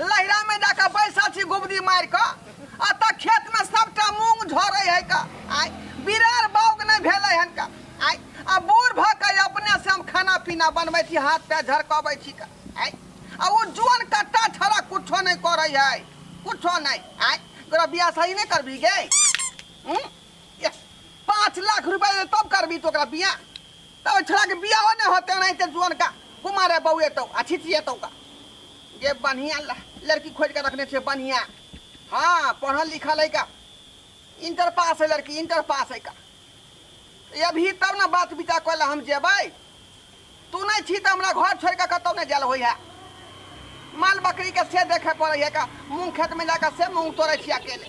लहिरामे जा कऽ बैसल छी गुबदी मारि कऽ एतऽ खेतमे सभटा मूंग झरै है कऽ आइ बिरार बाउग नहि भेलै हन कऽ आइ आ बूढ़ भऽ कऽ अपने से हम खाना पीना बनबै छी हाथ पैर झरकबै छी कऽ आइ आ ओ जोन कट्टा छड़ा कुछो नहि करै है कुछो नहि आइ तोरा बियाह सही नहि करबी गे हूँ? एह, पाँच लाख रुपया दे तब करबी तो ओकरा बियाह तऽ ओहि छोड़ाके बियाहो नहि होतै एनाहिते जुअनका कुमारे बौएतौ आ छिछिएतौ का जे बढ़िआँ लड़की खोजि कऽ रखने छै बढ़िआँ हँ पढ़ल लिखल है का इंटर पास है लड़की इंटर पास है का अभी तब ने बात विचार कऽ हम जेबै तू नहि छी तऽ हमरा घर छोड़ि कऽ कतहु नहि जायल होइ है माल बकरीके से देखय पड़ै है का मूँग खेतमे जा कऽ से मूँग तोड़ै छी अकेले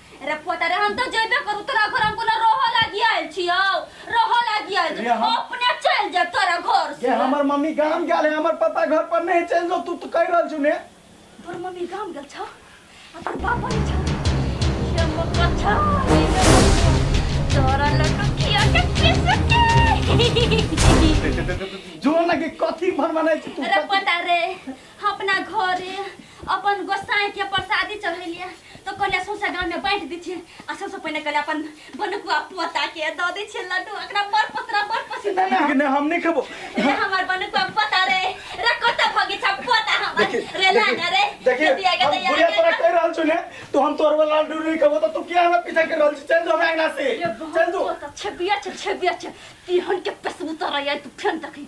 अरे पोता रे हम तो जेबे करू तोरा घर हम कोनो रहो लागी आयल छियो रहो लागी आयल रे, छियो हम- अपने चल जा तोरा घर जे से हमर मम्मी गाम गेल है हमर पापा घर पर नहीं चल जो तू तो कह रहल छु ने तोर मम्मी गाम गेल छौ आ तोर पापा नै छौ के मक्का छौ ई नै मक्का। तोरा लड्डू खिया के पीस के जो ना के कथी भन बनाय छि तू अरे पोता रे अपना घरे अपन गोसाई के प्रसादी चढ़ेलिए तो कहलिए सौंसे गांव में बांट दी छी आ सबसे पहले कहलिए अपन बनकुआ पोता के द दी छी लड्डू एकरा बड़ पतरा बड़ पसंद है लेकिन हम नहीं खेबो रे हमर बनकुआ पोता रे रे कोता भगी छा पोता हमर देखिए रे लाना रे देखिए दिया के हम दिया बुढ़िया तोरा कह रहल छु ने तो हम तोर वाला लड्डू नहीं खेबो तो तू किया हमरा पीछे कर रहल छी चल जो हमरा अंगना से चल जो छबिया छ छबिया छ तिहन के पेसबू तो रही तू फेन देखी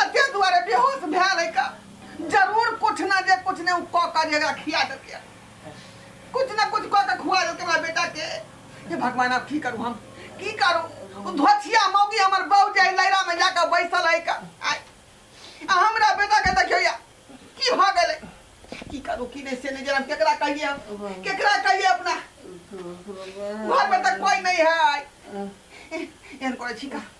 आ ते दुआरे बेहोश भए रही का जरूर कुछ ना जे कुछ ने कह कर जे एकरा खिया देलकै कुछ ना कुछ कह के खुआ देलकै हमरा बेटा के हे भगवान आब की करू हम की करू ओ धोछिया मौगी हमर बहू जे लैरा में जाके बैसल है का आय। आ हमरा बेटा के देखियो या की भ गेलै की करू की नहीं से नहीं जरा केकरा कहिए हम केकरा कहिए अपना घर में तक कोई नहीं है एहन करे छी का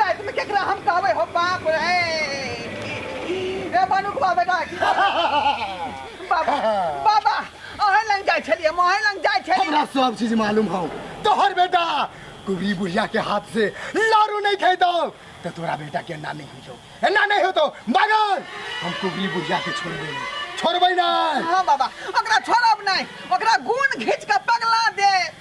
रात में केकरा हम कहबे हो बाप रे ए बनुक बा बेटा बाबा बाबा अहे लंग जाय छलिए मोहे लंग जाय छलिए हमरा सब चीज मालूम हो तोहर बेटा कुबरी बुढ़िया के हाथ से लारू नहीं खाई दो तो तोरा बेटा के ना नहीं हो जाओ ना नहीं हो तो मगर हम कुबरी बुढ़िया के छोड़बे नहीं छोड़बे ना हाँ बाबा ओकरा छोड़ब नहीं ओकरा गुण घींच के पगला दे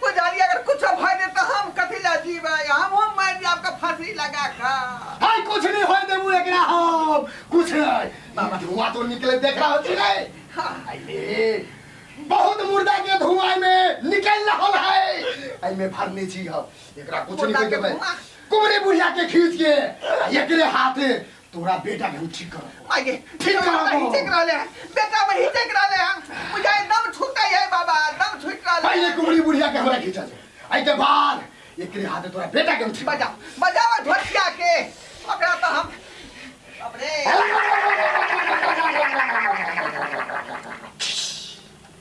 पुजारी अगर कुछ भय दे तो हम कथी ला जीवे हम हम मैं जी आपका फांसी लगा का हाय कुछ नहीं होय देबू एकरा हम कुछ नहीं बाबा धुआं तो निकले देख रहा छी रे आइले बहुत मुर्दा के धुआं में निकल रहल है आई में भरने छी हम एकरा कुछ नहीं होय देबे कुमरे बुढ़िया के खींच के एकरे हाथे तोरा बेटा के हम ठीक कर माय गे ठीक कर बाबा ही ठीक रहले हैं बेटा में ही ठीक रहले हैं मुझे दम छूट गई है बाबा दम छूट रहले पहले हैं। कुबड़ी बुढ़िया के हमरा खींचा दे आई के बाद एकरे हाथ तोरा बेटा के हम ठीक बजा बजा और ढोलकिया के ओकरा तो हम अपने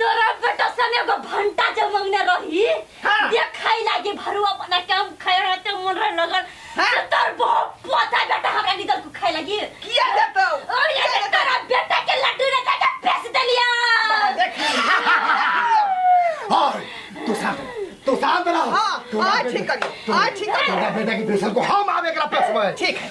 तोरा बेटा सने एगो भंटा जब मंगने रही हाँ। दे खाई लागे भरुआ बना के हम खाए रहते मन रहे लगन हाँ। तो तोर बहुत पता बेटा हमरा निकल को खाए लागी किया देतो और ये तो तोरा बेटा के लड्डू ने जाके बेच देलिया और तू शांत रह, तू शांत रह हाँ, तोरा हाँ, बेटा- ठीक है, हाँ, ठीक है। तोरा बेटा की बेसन को हम आवे एकरा पेश में ठीक है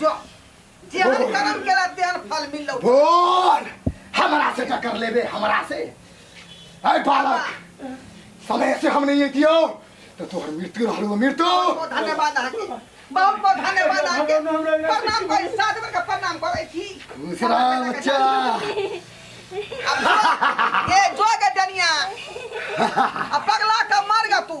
जो जेहन कर्म केला तेहन फल मिललो बोल हमरा से टक्कर लेबे हमरा से अरे बालक समय से हम नहीं दियो तो तोहर मृत्यु रहलो मृत्यु बहुत धन्यवाद अहाँ के बहुत बहुत धन्यवाद अहाँ के प्रणाम करी सात बेर के प्रणाम करै छी खुश रह बच्चा अब जो- ए जो के डनिया अब पगला के मर गा तू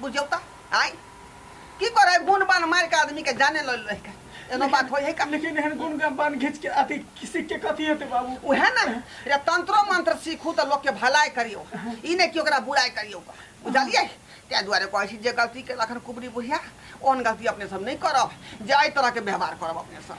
बुझियौ तऽ आइ की करे गुण बान मार के आदमी के जाने ल रह के एनो बात होय है का लेकिन एहन गुण के बान घीच के अथी किसी के कथी हेतै बाबू उहे ना रे तंत्रो मंत्र सीखू तऽ लोग के भलाई करियो ई ने कि ओकरा बुराई करियो का बुझलियै तै दुआरे कहै छी जे गलती के लखन कुबरी बुढ़िया ओहन गलती अपने सब नहीं करब जे एहि तरह के व्यवहार करब अपने सब